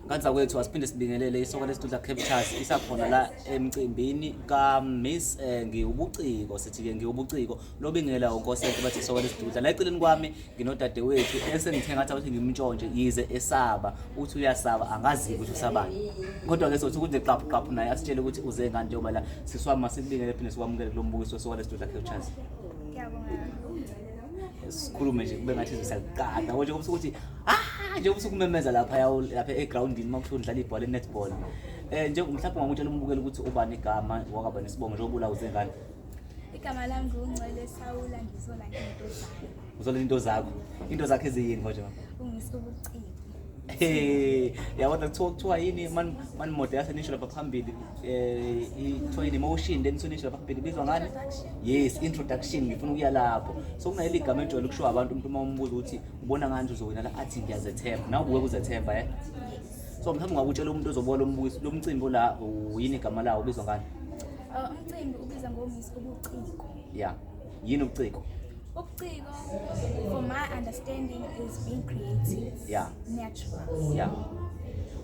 Kanzakwethu asiphinde sibingelele isoka lesitudla Captures isakhona la emcimbini ka Miss eh, ngiwubuciko sithi ke ngiwubuciko lobingela unkosente bathi isoka lesitudla la eceleni kwami nginodadewethu esengithe ngathi awuthi ngimntshontshe yize esaba uthi uyasaba angazi ukuthi usabani kodwa ke sothi ukuthi qaphu qaphu naye asitshele ukuthi uze ngani njengoba la siswama sikubingele phinde sikwamukele kulo mbukiso wesoka lesitudla Captures sikhulume nje kube ngathi sisakuqada konje kubusukuthi ah nje usuku memeza lapha yawo lapha egroundini uma kuthiwa udlala ibhola enetball eh nje mhlawumbe ungamutshela umbukeli ukuthi ubani igama wakaba nesibongo njengoba ulawuze ngani igama lami ngungcwele sawula ngizola into zakho uzola into zakho into zakho eziyini konje mama ungisubuciko Hey, yabona kuthiwa kuthiwa yini man man mode yasenisho lapha phambili eh ithiwa yini emotion then sonisho lapha phambili bizwa ngani? Yes, introduction ngifuna ukuya lapho. So kunaleli gama ejwayele ukushiwa abantu umuntu uma umbuza ukuthi ubona ngani uzowina la athi ngiyazethemba nawe ubuke kuzethemba eh so mhlawumbe ungakutshela umuntu ozobuka lo mbukiso lo mcimbi ola uyini igama lawo ubizwa ngani Uh, umcimbi ubiza ngoMiss ubuciko. ya yini ubuciko Ubuciko for my understanding is being creative, ya natural. ya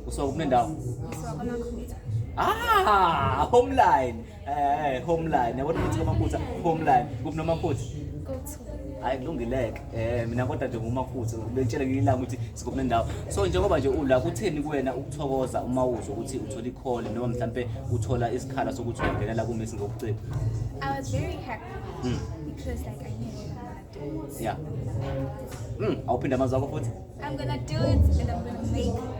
usuka kuphi nendawo Ngisuka kwaMakhutha. ah homeline Eh, homeline. Yabo ukuthi amaphutha homeline. Kuphi nomaphutha? hayi kulungileke um mina kodwa nje ngumakhuthe bengitshele ngelinye ilanga ukuthi sikuphi nendawo so njengoba nje ula kutheni kuwena ukuthokoza uma uzwa ukuthi uthola ikhole noma mhlawumpe uthola isikhala sokuthi ungenela kumesi ngobuciko I was very happy Hmm. because like I knew Yeah. Mm, awuphinde amazwi akho futhi. I'm gonna do it and I'm gonna make it.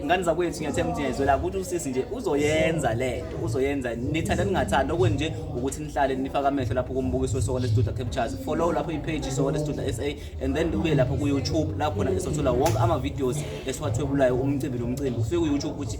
Ngani zakwethu ngiyathemba ukuthi ngiyayizwela ukuthi usisi nje uzoyenza le nto uzoyenza nithanda ningathanda okweni nje ukuthi nihlale nifake amehlo lapho kumbukiso wesoka lestudio captures follow lapho ipage isoka lestudio sa and then uye lapho ku-youtube lapho khona esothola wonke ama-videos esiwathwebulayo umcimbi nomcimbi ufike ku-youtube ukuthi